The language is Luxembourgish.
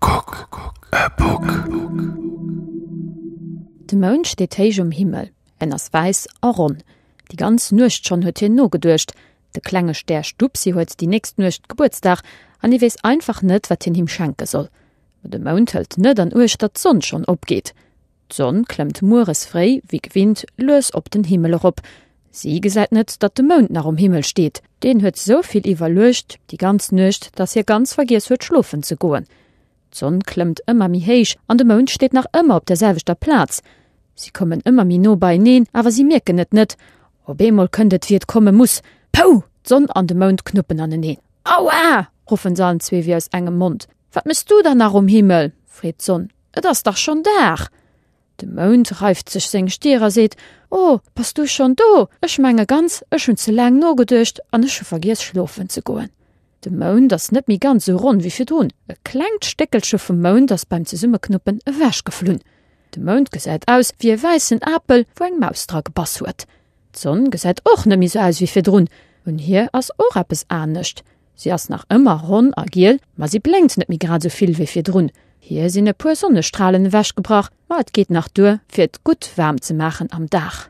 Kuck e Puck! De Mound steet héich um Himmel, en ass wäiss a ronn. Déi ganz Nuecht schonn huet hien nogeduecht. De klenge Stär Stupsi huet déi nächst Nuecht Gebuertsdag an hie weess einfach net, wat hien him schenke soll. Ma de Mound hëlt net an uecht, datt d'Sonn schonn opgeet. D'Sonn klëmmt mueres fréi, wéi gewinnt, lues op den Himmel erop. Si gesäit net, datt de Mound nach um Himmel steet. Deen huet sou vill iwwerluecht déi ganz Nuecht, datt hie ganz vergiess huet, schlofen ze goen. D'Sonn klëmmt ëmmer méi héich an de Mound steet nach ëmmer op der selwechter Plaz. Si kommen ëmmer méi no beieneen, awer si mierken et net. Op eemol kënnt et, wéi et komme muss, Pouh! D'Sonn an de Mound knuppen aneneen. Aua! ruffen se allen zwee wéi aus engem Mond. Wat méchs du da nach um Himmel? freet d'Sonn. Et ass dach schonn Dag! De Mound reift sech seng Stier a seet, O, bass du schonn do? Ech menge ganz, ech hunn ze laang nogeduecht an ech hu vergiess schlofen ze goen. De Mound ass net méi ganz esou ronn wéi virdrun. E klengt Stéckelche vum Mound ass beim Zesummeknuppen ewechgeflunn. De Mound gesäit aus wéi e wäissen Apel, wou eng Maus dra gebass huet. D'Sonn gesäit och net méi esou aus wéi virdrun. Un hir ass och eppes anescht. Si ass nach ëmmer ronn a giel, ma si blénkt net méi grad esou vill wéi virdrun. Hir sinn e puer Sonnestralen ewechgebrach, ma et geet nach duer, fir et gutt waarm ze maachen am Dag.